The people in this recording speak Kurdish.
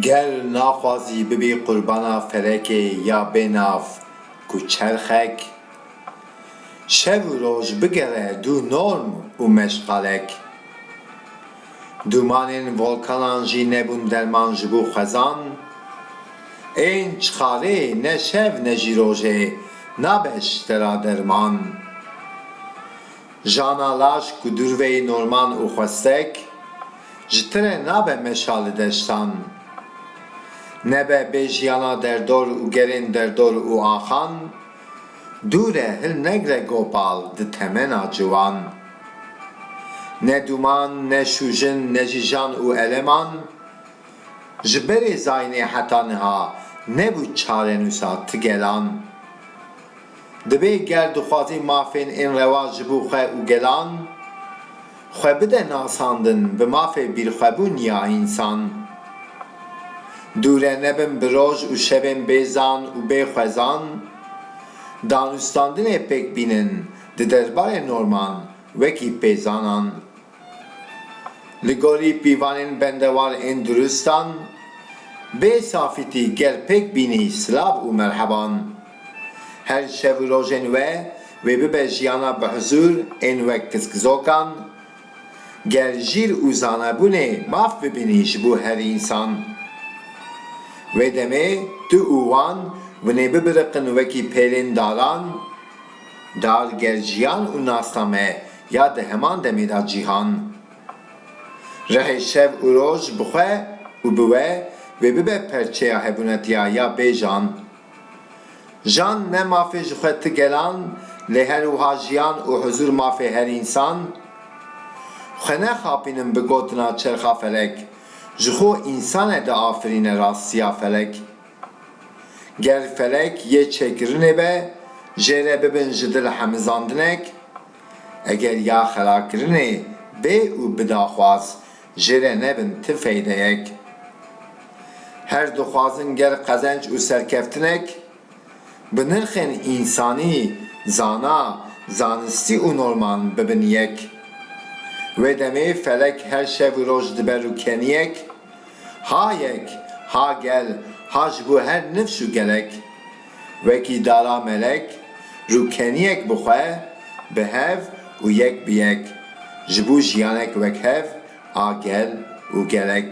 Ger naxwazî bibî qurbana felekê ya bênav ku çerxek, şev û roj bigere dû norm û meşxalek, dûmanên volkanan jî nebûn derman ji bo xwezan, ên çixarê ne şev ne jî rojê nabe ji te ra derman. Jana laş ku dûrveyî norman û xwestek, ji tire nabe meşa li deştan. Nebe bê jiyana derdor û gerên derdor û axan, dûr e hil negre gopal di temena ciwan. Ne dûman, ne şûjin, ne jî jan û eleman, ji berê zayînê heta niha nebû çarenûsa ti gelan. Divê ger dixwazî mafên ên rewa ji bo xwe û gelan xwe bide nasandin bi mafê bîrxwebûn ya însan. Dûre nebin bi roj û şevên bê zan û bê xwezan, danûstandinê pêk bînin di derbarê norman wekî pêzanan. Li gorî pîvanên bendewar ên duristan, bê safîtî gel pêk bînî silav û merheban. Her şev û rojên we wê bibe jiyana bi hizûr ên wek kizkizokan, gel jîr û zanebûnê maf bibînî ji bo her însan. Wê demê tu û wan winê bibiriqin wekî pêlên daran, dar gel jiyan û nasname Ya di heman demê de cîhan rehê şev û roj bi xwe û bi we wê bibe perçeya hebûnetiya ya bê jan. Jan ne mafê ji xwe ti gelan lê her wiha jiyan û huzûr mafê her însan? Xwe nexapînin bi gotina çerxa felek, ji xwe însan e diafirîne rastiya felek. Ger felek yê çêkirinê be jê re bibin ji dil hemizandinek, eger ya xelakirinê bê û bi daxwaz jê re nebin ti feydeyek. Her dixwazin ger qezenc û serkeftinek, bi nirxên însanî, zana, zanistî û norman bibin yek. Wê demê felek her şev û roj diber û keniyek. Ha yek, ha gel, ha ji bo her nifş û gelek. Wekî dara melek, rûkeniyek bi xwe, bi hev û yek bi yek, ji bo jiyanek wek hev a gel û gelek.